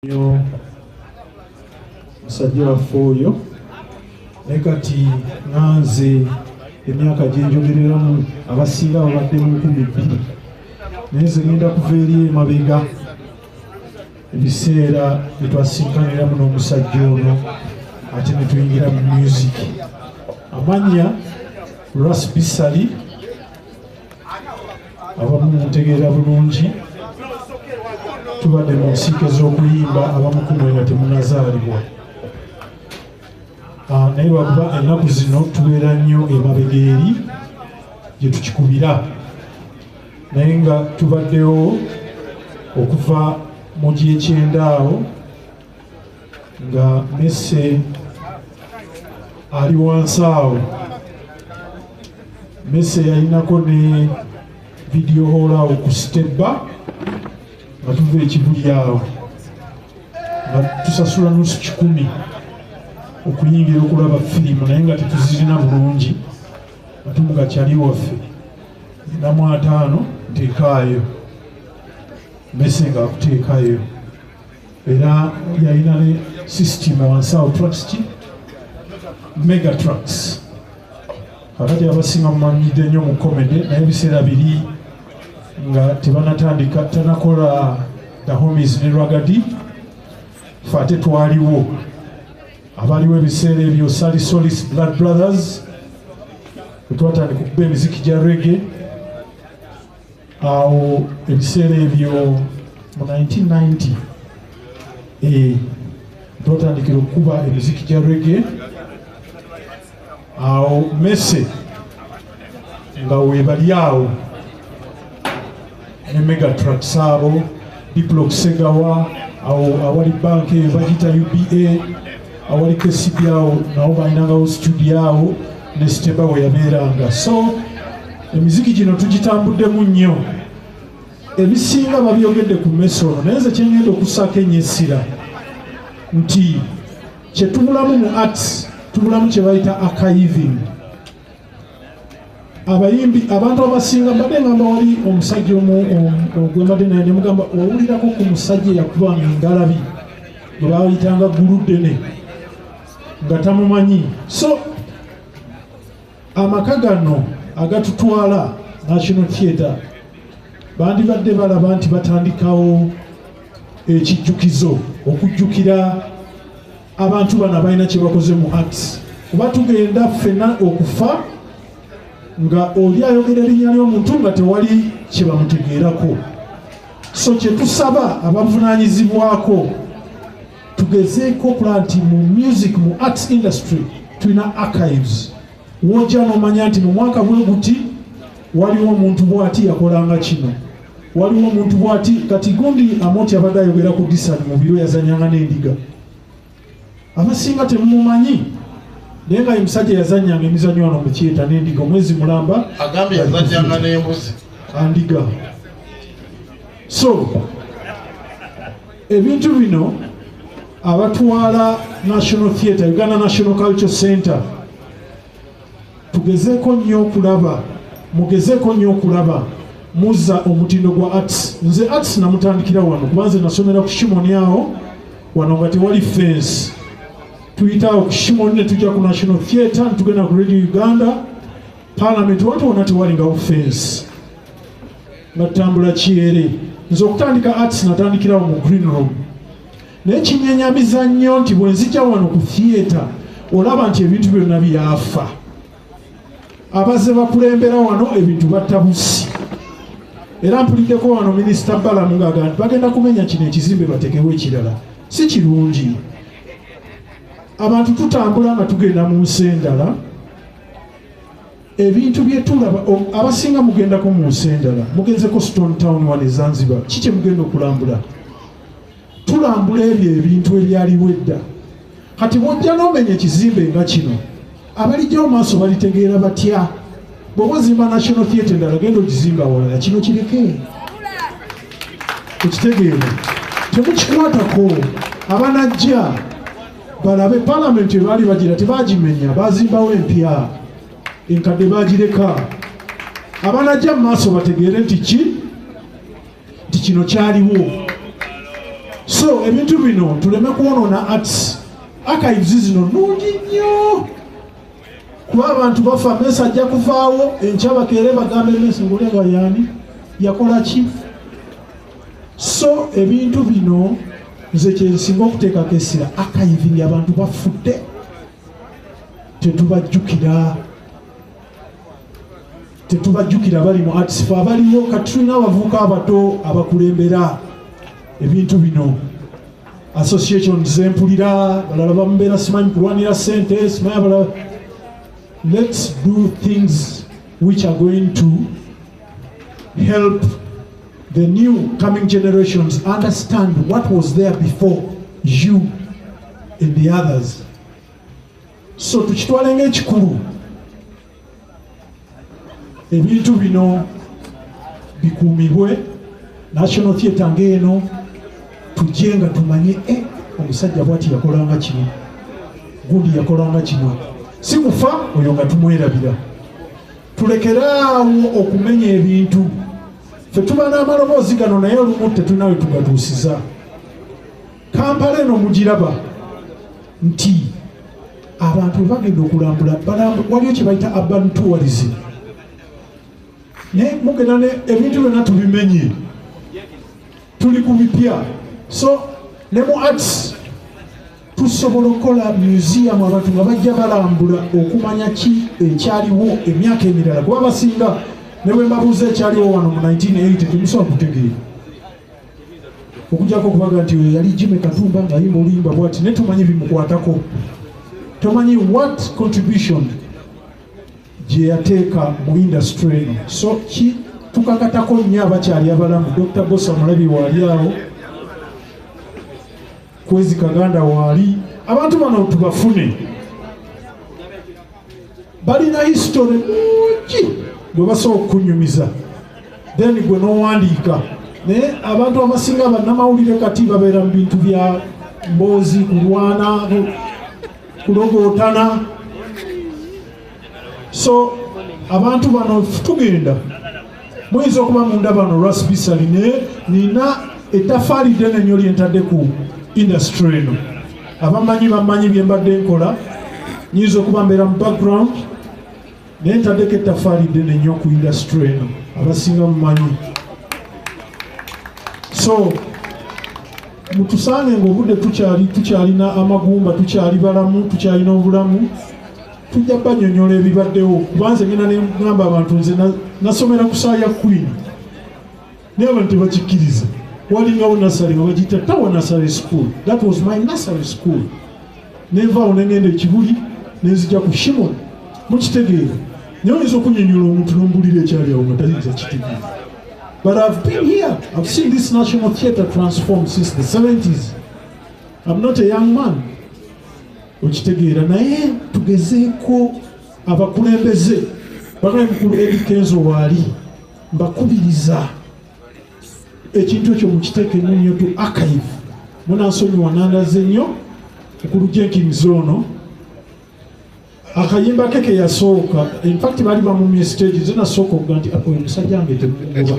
nyo musajja waffe oyo ne kati nganze emyaka gyenjogereramu abasinga babadde mu nkumi bbiri naye nze ngenda kuva eri emabega ebiseera byetwasinkaniramu n'omusajja ono ate netuyingira mu music amanya rasbisali abamu mutegeera bulungi tubadde mu nsiike z'okuyimba abamu kumwe nga temunazaalibwa ah, naye lwakuba ennaku zino tubeera nnyo emabega eri gye tukikubira naye nga tubaddewo okuva mu gyekyendaawo nga mese ali wansi awo mese yalinako ne vidiyo hoola awo ku sitebba nga tuva ekibuli awo nga tusasula nusu kikumi okuyingira okulaba firimu naye nga tetuzirina bulungi atumuka kyali waffe namu ataano nteekaayo mese nga akuteekayo era yalina ne system wansi awo trucks ki mega trucks kakati abasinga mumanyidde nnyo mu comedy naye ebiseera biri nga tebanatandika tanakola the homies ne ragadi fe ate twaliwo abaliwo ebiseera ebyo sali solis blood brothers wetwatandika okuba emiziki gya rege awo ebiseera ebyo mu 1990 eh, twatandikira okukuba emiziki gya rege awo mese nga webali awo ne megatrax abo diplox segawa awo awali banka eyo bagita uba awali kcb awo nawo balinangawo studio awo ne sitemba we yabeeranga so emiziki gino tugitambuddemu nnyo ebisinga babyogedde ku mmeso ono naye nze kyengenda okussaako enyo essira nti kyetubulamu mu arts tubulamu kye bayita akayiving abayimbi abantu abasinga mbadde ngamba wali omusajja omu gwembadde naye nemugamba owulirako ku musajja eyakuba ngalabi gwe baayitanga guluddene nga tamumanyi so amaka gano agatutwala national theatre bandibadde balaba nti batandikawo ekijjukizo okujjukira abantu bano abalina kyebakoze mu art kuba tugenda ffena okufa nga oli ayogera erinnya ly'omuntu nga tewali kyebamutegeerako so kyetusaba abavunanyizibwako tugezeeko okulaba nti mu music mu arts industry tulina archives wojja nomanya nti mu mwaka bwe guti waliwo omuntu bwati yakolanga kino waliwo omuntu bwati kati gundi amoti abadde ayogera ku disani mu biro yazanyanga n'endiga abasinga temumumanyi naye nga omusajja yazanyanga emizanyo wano mukyeta n'endiga omwezi mulamba agambye yazanyanga n'embuzi andiga so ebintu bino abatwala national theatre uganda national culture center tugezeeko nnyo okulaba mugezeeko nnyo okulaba muza omutindo gwa arts nze arts namutandikira wano kuba nze nasomera ku shimoni awo wano nga tewali fensi tuyitaawo ku shimoni ne tujja ku national theatre netugenda ku radio uganda palamenti watu wona tewali ngawo fensi natambula kyere nze okutandika arts natandikirawo mu green room naye kinyenyamiza nnyo nti bwenzija wano ku theatre olaba nti ebintu byonna byafa abaze bakulembera wano ebintu battabusi era mpuliddeko wano minisita balamu ngaaga nti bagenda kumenya kino ekizimbe batekewo ekirala si kirungi abantu tutambula nga tugenda mu nsi endala ebintu byetulaba abasinga mugendako mu nsi endala mugenzeko stone town one ezanzibar ki kyemugenda okulambula tulambula ebyo ebintu ebyaliwo edda kati bwojja nomenya ekizimbe nga kino abalijja omaaso balitegeera batya bwoba ozimba national theatre endala genda okizimba awalala kino kireke ekitegeera temukikwatako abanajja balabe palamenti ebaali bagira tebagimenya bazimbawo empya enkadde bagireka abanajja mu maaso bategeere nti ki nti kino kyaliwo so ebintu bino tuleme kwonoona arts archives zino nungi nnyo kuba abantu bafa mesa ajja kuvaawo enkyabakeere bagambe mesa ngolenga yani yakola ki so ebintu bino nze kyensinga okuteekako essira akayivingi abantu bafudde tetubajjukira tetubajjukira bali mu atisifo abaliwo kati tulina abavuuka abato abakulembera ebintu bino association zempulira balala bamubeera simanyi kulwanira sente simanyi abalala let's do things which are going to help The new coming generations understand what was there before you and the others. So tukitwale ng'ekikulu ebintu bino bikuumibwe national theatre ng'eno tujje nga tumanye e eh, omusajja bwati yakolanga kino gundi yakolanga kino si kufa oyo nga tumwerabira tulekeraawo okumenya ebintu fe tuba n'amaloboozi gano naye olumu tetulina we tugatuusiza kampala eno mugiraba nti abantu webagenda okulambula waliyo kyebayita urban tourism naye mugenda ne ebintu byonna tubimenye tuli ku bipya so ne mu arts tusobola okukola museum abantu nga bajja balambula okumanya ki ekyaliwo emyaka emirala kuba basinga ne bwe mbabuuza ekyaliwo wano mu 1980 temusobola kutegeera okujjako okubaga nti oyo yali jime katumba ng'ayimba oluyimba bwati naye tomanyi bimukwatako tomanyi what contribution gye yateeka mu industry eno so ki tukakatako nnyo abakyali abalamu dr bosa mulabi waali awo Kwezi Kaganda waali abantu bano tubafune, balina history mungi gwe basobola okukunyumiza then gwe n'owandiika naye abantu abasinga bannamawulire kati babeera mu bintu bya mboozi kulwana kulogootana so abantu bano tugenda muyinza okuba mundaba no lwasibisa line nina etafaali ddene nnyo lyentadde ku indasitry eno abamanyi bamanyi bye mbadde nkola nyinza okuba mbeera mu background naye ntaddeko ettafaali ddene nnyo ku indasitry eno abasinga mumanyi so mutusange ngaobudde tukyali tukyalina amagumba tukyali balamu tukyalina obulamu tujja banyonyola ebibaddewo kubanze ngenda nengamba abantu nze nasomera ku saa ya queen naye abantu tebakikkiriza walingawo nasale nga bagiyita tawa nasale school that was my nasale school nenvaawo nengenda ekibuli nenzija ku shimon mukitegeera naye oyinza okunyonyola omuntu nombulira ekyali awo nga tayinza kitegeera but ihave been here ihave seen this national theatre transform since the 70s im not a young man okitegeera naye tugezeeko abakulembeze banaye mukulu edi kenzo waali mbakubiriza ekintu ekyo mukiteeke nyo tu archive munansonyiwa nandaze nnyo mukulu jenkins ono akayimba ke keyasooka infact bali bamumye stage zinasooka okuga nti oyo musajja nge temukuba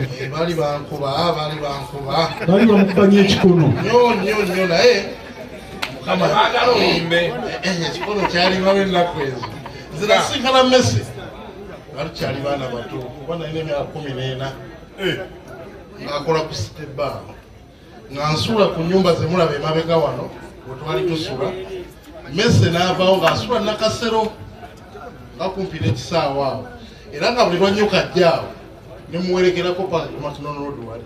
bali bamukubanye ekikono ekikolo kyalibawo ennaku ezo nze nasinkana mesi nga tukyali baana bato kuba nalina emyaka kumi n'ena eh. ngaakola ku site baa nga nsuula ku nyumba zemulaba emabega wano wetwali tusula mese n'avawo ng'asula nakasero nga kumpi n'ekisaawa awo era nga buli lwanyuka ajja awo nemuwerekerako paka ku matunonoodwali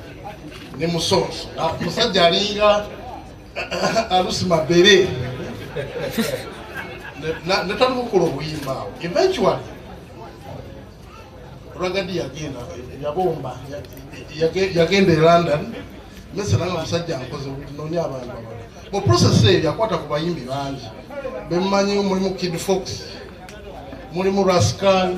ne musonso ah, musajja alinga alusi mabere netatukukula obuyimba awo eventually ragadi yagenda yabomba yagenda e london mese nanga musajja nkoze nonya abantu abala mu process eyo yakwata ku bayimbi bangi bemumanyi mulimu kid fox mulimu rascal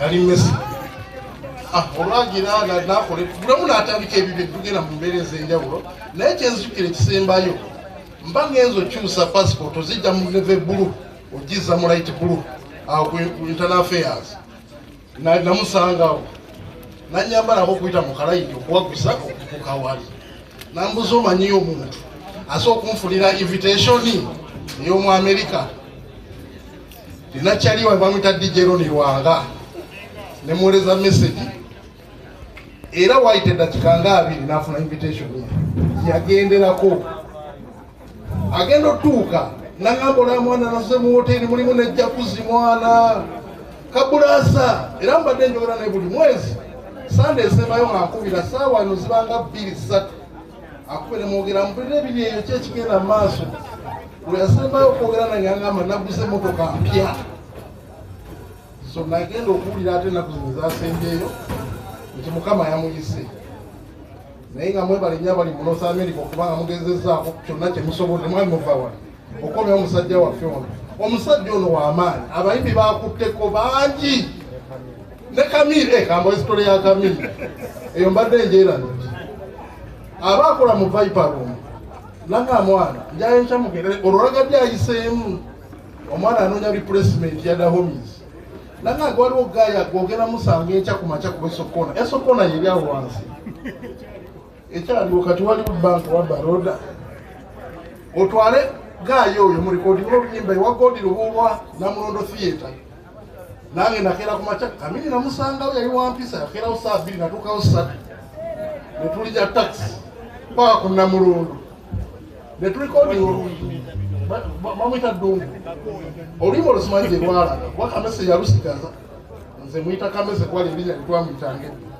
yali mesi ah, olwagira nakola bulamu natandika ebibyo tugenda mu mbeera ez'enjawulo naye kyenzijukira ekisembayo mba ngenza okyusa passport ozijja mu neve bulu ogiza mu light bulu awo ku internal affairs namusangawo nanyambalako okuyita mu kalayiti okuwagusa okukawali nambuza omanyiyo omuntu asa okunfunira invitationi ey'omu amerika Nakyali wa bamwita DJ Ronnie Lwanga ne muwereza message era wayita eddakiika nga abiri n'afuna invitation yagenderako agenda otutuuka nangamba olaba mwana naze mu woteri mulimu ne jakuzi mwana kabulaasa era mbadde njogera ne buli mwezi sande esembayo nga nkubira saawa eno zibanga bbiri ssatu akube nemwogera mpulira ebiri eyo ki ekigenda mu maaso bwe yasembayo okwogera nange angamba naguze emotoka mpya so nagenda okuwulira ate enaku zino zasembyeyo nti mukama yamuyise naye nga mwebale nyo abali mu north america okubanga mugezezaako kyonna kyemusobola mwali muvawa okomya omusajja waffe ono omusajja ono wamaanyi abayimbi bakutteko bangi ne kamiri eh, kamba esitole ya kamiri eyo mbadde enjeera nti aba akola mu viper room nanga mwana njayo nkyamugerere olwolagadde ayiseemu omwana anoonya replacement ya dahomis nanga nga waliwo gaya gwogera musanga enkya ku makya kuba esokona esokona yeri awo wansi ekyaliwo kati waliwo banka wa baroda otwale gaayo oyo mu rekodinga oluyimba ewa godi lubuulwa namulondo theatre nange nakeera ku makya kamini namusangawo yali wampisa yakeerawo saa bbiri natuukawo satu netuli ja taxi paka ku namulondo netulikodinga oluyimba bamwita dungu oluyimba olusimanyi gyerwalaga kuba kamese yalusigaza nze mwita kamese kuba lirinya litwamwitange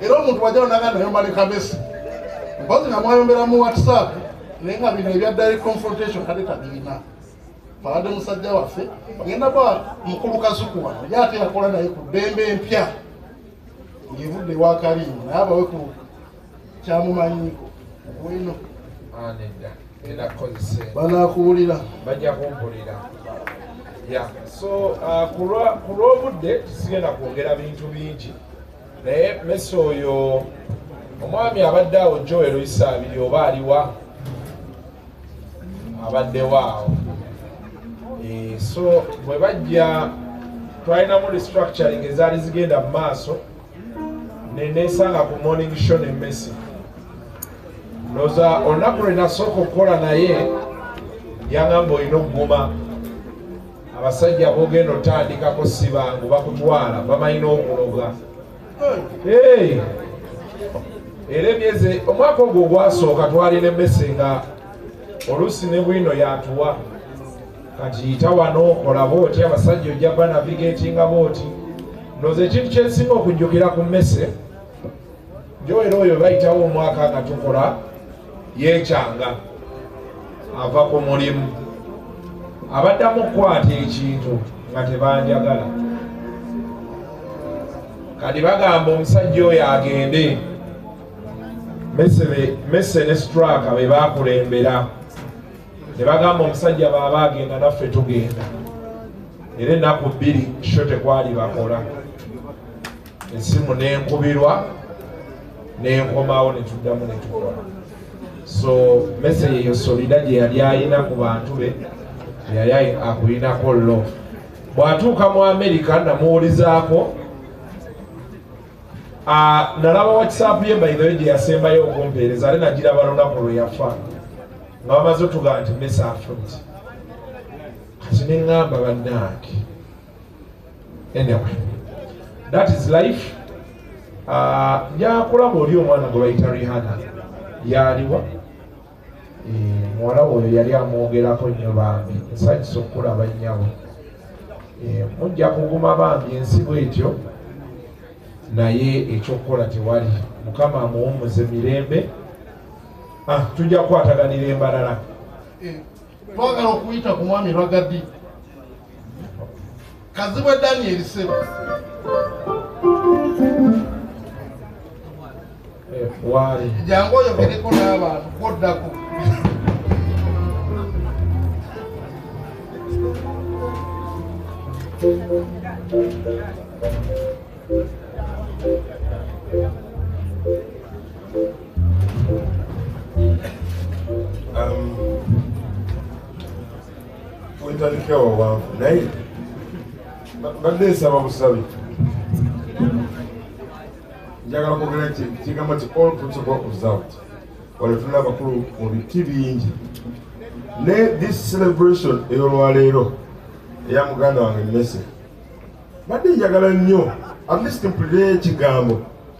era omuntu wajja onaga nayomba ne kamesi mpozi nga mwayombera mu whatsapp naye nga bino ebya direct confrontation kale tabirina abadde musajja waffe agenda ba mukulu kazuku wano ye ate yakola naye ku ddembe empya ngevudde ewakaliimu naye abawe ku kyamumanyiiko wino anedda era kozese banakuwulira bajja kumpulira ya so uh, ku lw'obudde tusigenda kwogera bintu bingi naye mesi oyo omwami abadde awo joel isaabiri oba aliwa abaddewo awo eh, so bwe bajja twalinamu restructuring ezaali zigenda mu maaso nenesanga ku morning show ne mesi noza olunaku lwenasooka okukola naye yangamba olina okuguma abasajja bogenda otandikako sibangu bakutwala bamanyi n'okuloga era emyezi omwaka ogwo ogwasooka twalina emmese nga oluusi ne bwino yatuwa kati yita wano kola booti abasajja ojja ba navigatinga booti noza ekintu kyensinga okujjukira ku mmese njoera oyo bayitawo omwaka nga tukola yekyanga ava ku mulimu abaddamu okukwata ekintu nga tebanjagala kati bagamba omusajja oyo agende mese ne straka be bakulembera ne bagamba omusajja baaba agenda naffe tugenda era ennaku bbiri sho tekwali bakola esimu nenkubirwa nenkomawo netuddamu netukola so mese yeyo solida gyeyali ayina ku bantu be yali akulinako lo bwatuuka mu amerika namuwulizaako Ah, nalaba whatsapp ye baidhawe gye yasembayo okumpeereza ate nagiraba lunaku lwe yafa nga bamaze otugaa nti mesa afut kati neŋŋamba bannaange anyway that is life ah, njakulaba oli omwana gwe bayita rihana yaliwa eh, muwala oyo yali amwogerako nnyo bambi nsanyusa okukulaba nnyabo eh, mujja kuguma bambi ensi bwetyo naye ekyokukola tewali mukama amuwumuze mirembe ah, tujja kukwataganira embalala eh. twagala okuyita ku mwami ragadi kazibwe daniel sebo jangu oyogereko n'abantu koddako Thank you. ntandikira um, wawanvu naye mbadde nsaba busabi njagala kwogera nti kigambo ti all principle observed wale tulina abakulu mu biti bingi ne this celebration eyolwaleero eya muganda wange mese mbadde njagala nnyo at least mpulire ekigambo